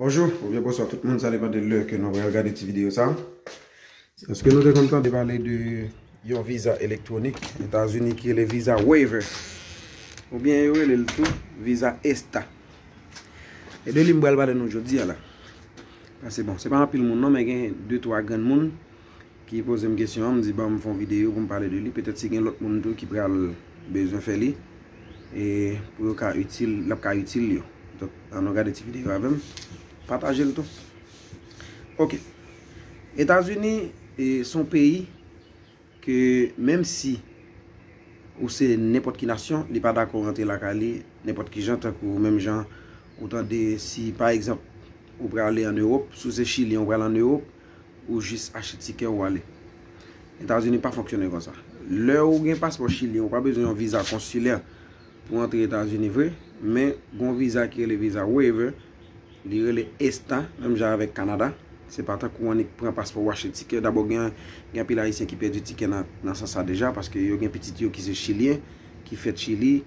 Bonjou oubyen bonswa tout moun sa depan de lè ke nou pral gade ti videyo sa. Eske nou te konn tande pale de yon viza elektronik etazini ki rele viza waiver oubyen yo rele l tou viza esta. E de li m pral pale nou jodi a la. Pase bon se pa anpil moun non men gen de twa grenn moun ki poze m kesyon an, m di ban m fon videyo pou m pale de li, petèt si gen lòt moun tou ki pral bezwen fè li, e pou yo ka itil, l ap ka itil yo. Donk, an nou gade ti videyo avè m, pataje l tou. Ok, Etazini se yon peyi ke menm si ou se nenpòt ki nasyon, li pa dakò rantre lakay li nenpòt ki jan, tankou menm jan ou tande si pa egzanp ou prale an Ewop, si w se chilyen ou pral an Ewop, Ou jis achte tikè ou ale. Etazini pa fonksyone konsa. Lè ou gen paspò chilyen ou pa bezwen yon viza konsilè pou antre Etazini vre, men gon viza ki rele viza waiver, li rele ESTA menm jan avèk Kanada, se pa tankou ou annik pran paspò ou achte tikè, dabò gen anpil ayisyen ki pèdi tikè nan sans sa deja paske yo gen pitit yo ki se chilyen, ki fèt chili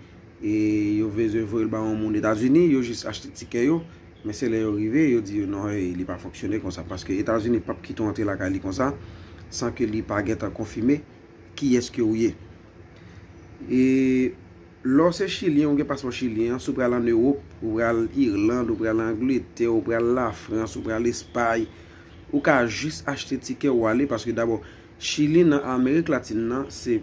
e yo bezwen voye l ba yon moun Etazini, yo jis achte tikè yo. Men se lè yo rive yo di yo non hey li pa fonksyone konsa paske etazini pap kite w antre lakay li konsa san ke li pa gentan konfime kiyès ke ou ye e lè w se chilyen ou gen paspò chilyen an si w pral an ewop ou pral irland ou pral angletè ou pral lafrans ou pral espay ou ka jis achte tikè ou ale paske dabò chili nan amerik latin nan se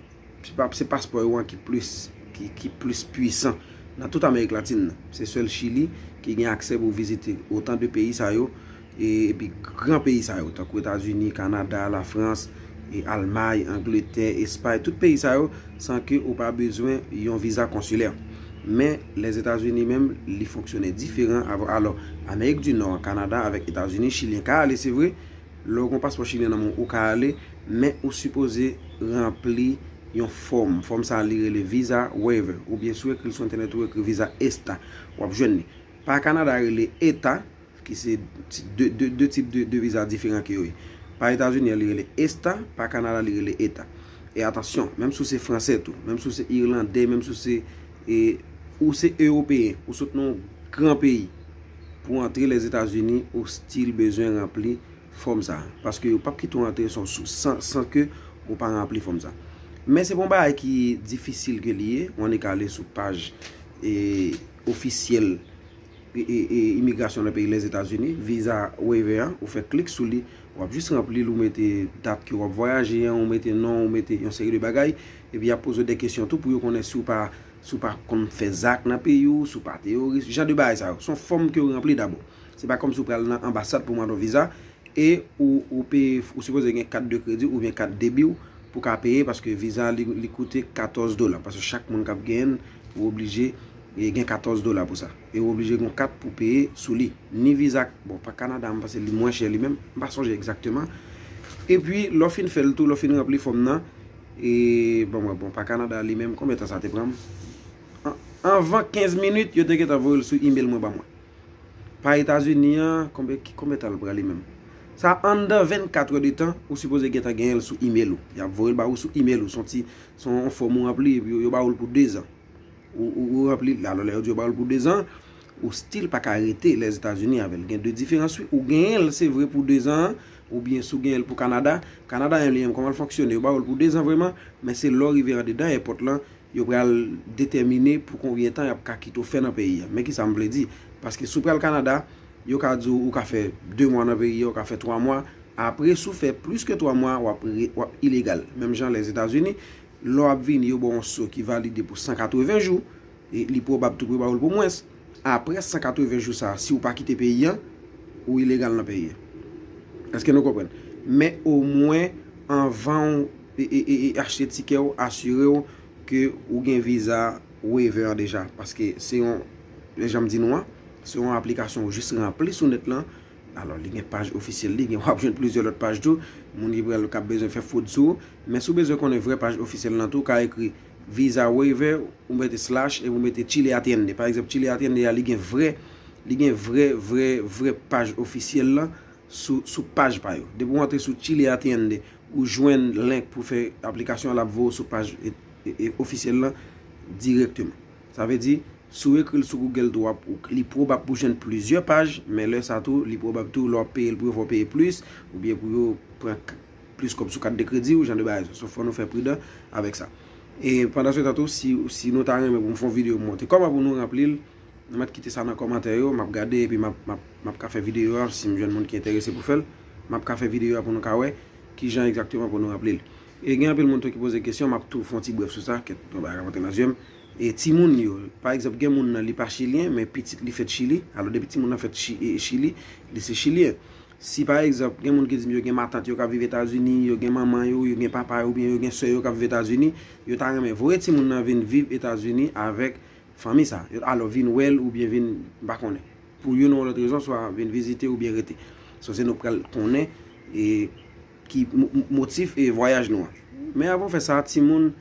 Se paspò yo an ki plis ki plis pwisan nan tout amerik latin nan. Se sèl chili ki gen aksè pou vizite otan de peyi sa yo epi gran peyi sa yo tankou etazini, kanada, la frans, almay, angletè, espay tout peyi sa yo san ke ou pa bezwen yon viza konsilè. Men lèzetazini menm li fonksyone diferan alò amerik di nò kanada avèk etazini chilyen ka ale se vre Lè w gen yon paspò chilyen nan men w, ou ka ale, men ou sipoze ranpli yon fòm. Fòm sa a li rele Visa Waiver, oubyen si w ekri l sou entènèt ou ekri Visa ESTA, w ap jwenn li. Pa Kanada rele eta, ki se 2 tip de viza diferan ke yo ye. Pa Etazini an li rele esta, pa Kanada li rele eta. E atansyon, menm si w se fransè tou, menm si w se irlandè, menm si w se, ou se ewopeyen, ou sot nan yon gran peyi, Pou antre Lèzetazini ou stil bezwen ranpli fòm sa a. Paske yo pap kite w antre san ke ou pa ranpli fòm sa. Men se pa yon bagay ki difisil ke li ye. Ou annik ka ale sou paj ofisyèl imigrasyon nan peyi Lèzetazini, Visa Waiver an. Ou fè klik sou li. Ou ap jis ranpli li, ou mete dat ke ou ap vwayaje an, ou mete non, ou mete yon seri de bagay. Epi y ap poze w de kesyon tou pou yo konnen si ou pa. Si w pa konn fè zak nan peyi w, si w pa teyoris, jan de bagay sa yo. Se yon fòm ke w ranpli dabò. Se pa kòmsi w pral nan anbasad pou mande yon viza e ou peye, ou sipoze gen kat de kredi oubyen kat debi w pou ka peye paske viza li koute 14 dola. Paske chak moun kap genyen l, ou oblije gen 14 dola pou sa. E ou oblije gen yon kat pou peye sou li. Ni viza, bon pa Kanada mwen panse li mwen chè li menm, mwen pa sonje egzakteman. E pi lè w fin fè l tou, lè w fin ranpli fòm nan. E banm wè bon pa Canada li menm konbyen tan sa te pranm anvan 15 minit yo te gentan voyel sou email mwen banm wè pa etazini an konbyen tan li pran li menm sa anndan 24 heures de tan ou sipoze gentan genyenl sou email ou yap voyel ba ou sou email ou son ti son yon fòm ou ranpli epi yo ba oul pou 2 zan ou ranpli la lè yo di yo ba oul pou 2 zan ou stil paka rete lèzetazini avèl gen 2 diferans wi ou genyenl se vre pou 2 zan Ou byen si w genyen l pou Kanada, Kanada yon li menm kòman l fonksyone, yo ba w l pou 2 zan vreman, men se lè w rive andedan èpòt lan, yo pral detèmine pou konbyen tan y ap ka kite w fè nan peyi a. Men kisa m vle di, paske si w pral Kanada, yo ka di w ou ka fè 2 mwa nan peyi a, ou ka fè 3 mwa, apre si w fè plis ke 3 mwa, w ap ilegal. Menm jan Lèzetazini, lè w ap vini yo ba w yon so ki valide pou 180 jou. Li pwobab tou pou yo ba ou l pou mwens. Apre 180 jou sa a, si ou pa kite peyi an, ou ilegal nan peyi an. Eske nou konprann? Men omwen anvan ou achte tikè ou, asire ou ke ou gen viza waiver an deja. Paske se yon, jan m di nou an, se yon aplikasyon ou jis ranpli sou nèt lan. Alò li gen paj ofisyèl li, gen w ap jwenn plizyè lòt paj tou. Moun ki pral, k ap bezwen fè fwod sou ou. Men si w bezwen konnen vrè paj ofisyèl lan tou, ou ka ekri. Visa waiver ou mete slash epi ou mete Chile Atiende. Pa egzanp Chile Atiende a li gen vrè li gen vrè vrè vrè paj ofisyèl lan sou sou paj pa yo. Depi ou antre sou Chile Atiende ou jwenn link pou fè aplikasyon an l ap voye w sou paj ofisyèl lan dirèkteman. Sa vle di si w ekri l sou Google tou wap li pwobab pou w jwenn plizyè paj men lè sa tou li pwobab tou lè w ap peye l pou yo fè w peye plis oubyen pou yo pran k. plis kòb sou kat de kredi ou jan de bagay sa. So fò nou fè pridan avèk sa. E pandan se tan tou si nou ta renmen pou m fon video m montre kòman pou nou ranpli l nou mèt kite sa nan kòmantè yo map gade epi map ka fè video a si m jwenn moun ki enterese pou fèl map ka fè video a pou nou ka wè kijan egzakteman pou nou ranpli l. E gen anpil moun tou ki poze kesyon map tou fon ti brèf sou sa kèt yon bagay kap antre nan zye m. E ti moun yo pa egzanp gen moun nan li pa chilyen men pitit li fèt chili alò depi ti moun nan fèt chili li se chilyen. Si pa egzanp, gen moun ki di m yo gen matant yo k ap viv Etazini, yo gen manman yo, yo gen papa yo oubyen yo gen sè yo k ap viv Etazini, yo ta renmen voye timoun nan vin viv Etazini avèk fanmi sa a, alò vin wè l oubyen vin, m pa konnen, pou youn ou lòt rezon, swa vin vizite oubyen rete. So se nou k pral konnen e ki motif e vwayaj nou an. Men avan w fè sa, timoun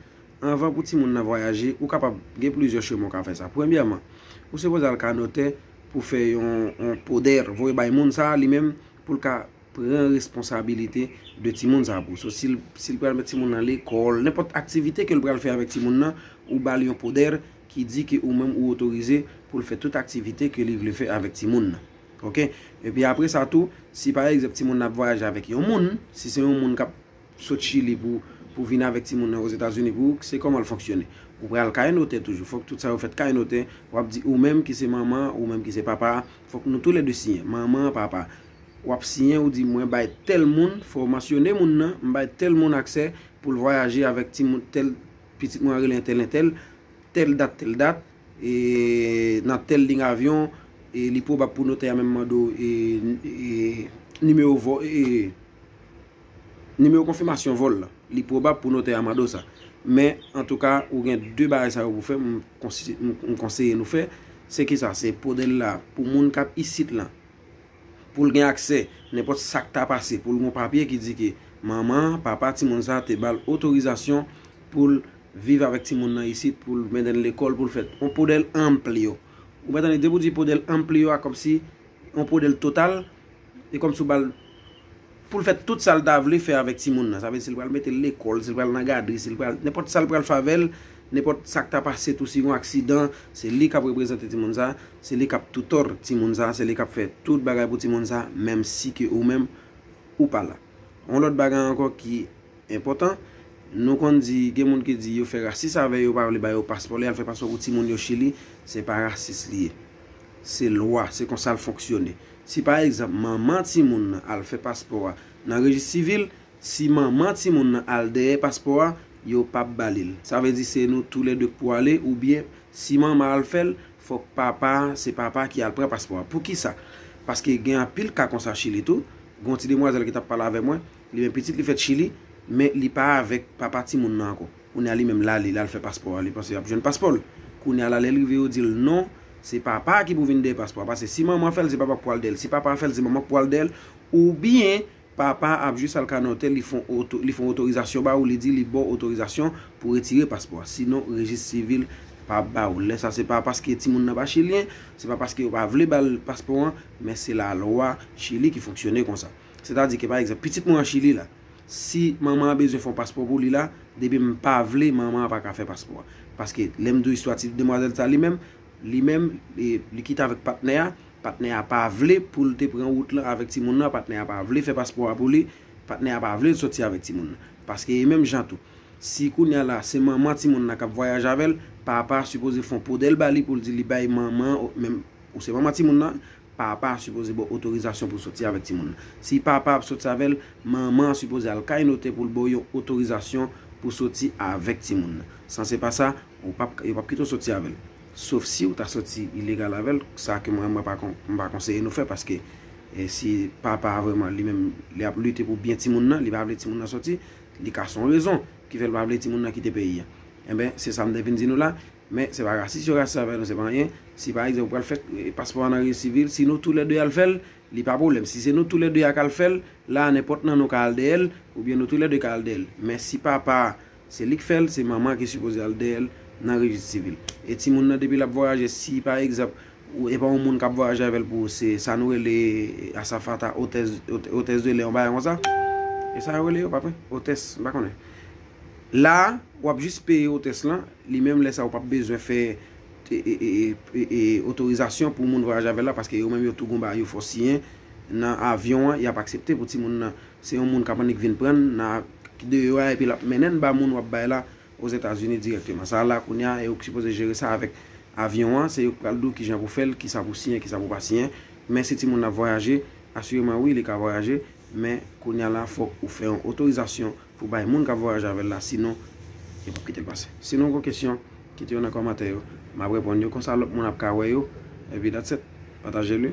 Anvan pou timoun nan vwayaje, ou kapab gen plizyè chemen ou ka fè sa. Premyèman, ou sipoze al ka notè pou fè yon poder, voye bay moun sa a li menm pou l ka pran responsabilite de timoun sa a pou ou. So si l pral met timoun nan lekòl, nenpòt aktivite ke l pral fè avèk timoun nan, ou ba l yon poder ki di ke ou menm ou otorize pou l fè tout aktivite ke li vle fè avèk timoun nan. Ok. Epi apre sa tou, si pa egzanp timoun nan ap vwayaje avèk yon moun, si se yon moun k ap sot chili pou pou vin avèk timoun nan ozetazini pou se kòman l fonksyone ou pral kay notè toujou fòk tout sa yo fèt kay notè wap di ou menm ki se manman ou menm ki se papa a fòk nou tou lè 2 siyen manman an papa wap siyen ou di mwen bay tèl moun fò mansyone moun nan m bay tèl moun aksè pou l vwayaje avèk timoun tèl pitit mwen an rele entèl entèl tèl dat tèl dat e nan tèl ling avyon e li pwobab pou notè a menm mande w e e nimewo vò e. Nimewo konfimasyon vòl la. Li pwobab pou notè a mande w sa. Men, antouka, ou gen 2 bagay sa yo pou fè, m konseye nou fè. Se ki sa? Se pwode l la pou moun k ap isit lan. Pou l gen aksè, nenpòt sa k ta pase, pou l gen yon papye ki di ke manman, papa timoun sa a te ba l otorizasyon pou l viv avèk timoun nan isit, pou l mennen l lekòl, pou l fè. Yon pwode l anpli yo. Ou konprann? Depi w di pwode l anpli yo a, kòmsi yon pwode l total, E kòmsi ou ba l pou l fè tout sa l ta vle fè avèk timoun nan. Sa vle di si l pral mete l lekòl, si l pral nan gadri, si l pral, nenpòt sa l pral fè avè l, nenpòt sa k ta pase tou si gon aksidan, se li k ap reprezante timoun sa, se li k ap toutòr timoun sa, se li k ap fè tout bagay pou timoun sa menmsi ke ou menm ou pa la. On lòt bagay ankò ki enpòtan, nou konn di gen moun ki di yo fè rasis avè yo, yo pa vle ba yo paspò, li al fè paspò pou timoun yo Chili, se pa rasis li ye. Se lwa, se konsa l fonksyone. Si pa egzanp manman timoun nan al fè paspò a nan rejis sivil, si manman timoun nan al dèyè paspò a, yo pap ba li l. Sa vle di se nou tou lè 2 k pou ale oubyen si manman al fè l, fòk papa, se papa ki al pran paspò a. Poukisa? Paske gen anpil ka konsa Chili tou. Gon ti demwazèl ki t ap pale avè mwen, li menm pitit li fèt Chili, men li pa avèk papa timoun nan ankò. Kounye a li menm lale lal fè paspò a li panse lap jwenn paspò l kounye a la lèl rive yo dil non se papa a ki pou vin dèyè paspò a pase si manman fèl se papa k pwal dèyèl si papa a fèl se manman k pwal dèyèl oubyen papa a ap jis al ka nan otèl li fon li fon otorizasyon ba ou li di li baw otorizasyon pou retire paspò a sinon rejis sivil pa ba ou l lè sa se pa paske timoun nan pa chilyen se pa paske yo pa vle bal paspò an men se lalwa chili ki fonksyone konsa sètadi ke pa egzanp pitit mwen an chili la. Si manman an bezwen fon paspò pou li la, depi m pa vle manman an pa ka fè paspò a. Paske lè m di w istwa ti demwazèl sa li menm, li menm li kite avèk patnè a, patnè a pa vle pou l te pran wout lan avèk timoun nan, patnè a pa vle fè paspò a pou li, patnè a pa vle l soti avèk timoun nan. Paske e menm jan tou, si kounye a la se manman timoun nan k ap vwayaje avè l, papa a sipoze fon podèl ba li pou l di li bay manman, menm ou se manman timoun nan, Papa a sipoze bo otorizasyon pou soti avèk timoun nan. Si papa ap soti avèl, manman an sipoze al kay notè poul bo yon otorizasyon pou soti avèk timoun nan. San se pa sa, ou pap yo pap kite w soti avèl. Sof siw ta soti ilegal avèl, sa ke mwen mwen pa kon m pa konseye nou fè paske si papa a vrèman li menm li ap lite pou byen timoun nan, li pa vle timoun nan soti, li ka son rezon ki fèl pa vle timoun nan kite peyi a. Enben, se sa m te vin di nou la. Men se pa rasis yo rasis avè nou se pa anyen, si pa egzanp ou pral fè paspò a nan resi vil si nou tou lè 2 al fèl li pa pwoblèm si se nou tou lè 2 a kal fèl la nenpòt nan nou ka al dèyèl oubyen nou tou lè 2 ka al dèyèl men si papa a se lik fèl se manman ki sipoze al dèyèl nan rejis sivil e timoun nan depi lap vwayaje si pa egzanp ou epa yon moun kap vwayaje avèl pou se sa nou rele asafata otèz otèz de lè yon bagay konsa esa yo rele yo pap otès m pa konnen. La a, w ap jis peye otès lan, li menm lè sa a ou p ap bezwen fè otorizasyon pou moun vwayaje avè l la paske yo menm yo tou gonba yo fè w siyen nan avyon an y ap aksepte pou timoun nan se yon moun k ap annik vin pran n nan ak deyò a epi l ap mennen n ba moun w ap bay la Ozetazini dirèkteman. Sa la a kounye a e ou k sipoze jere sa avèk avyon an, se yo k pral di w kijan pou w fè l, kisa pou w siyen, kisa pou w pa siyen men si timoun nan ap vwayaje, asireman wi li ka vwayaje men kounye a la fòk ou fè yon otorizasyon. Pou bay moun kap vwayaje avèl la sinon yo pap kitel pase sinon ou gon kesyon kite yo nan kòmantè yo map reponn yo konsa lòt moun ap ka wè yo epi that's it patajel wi.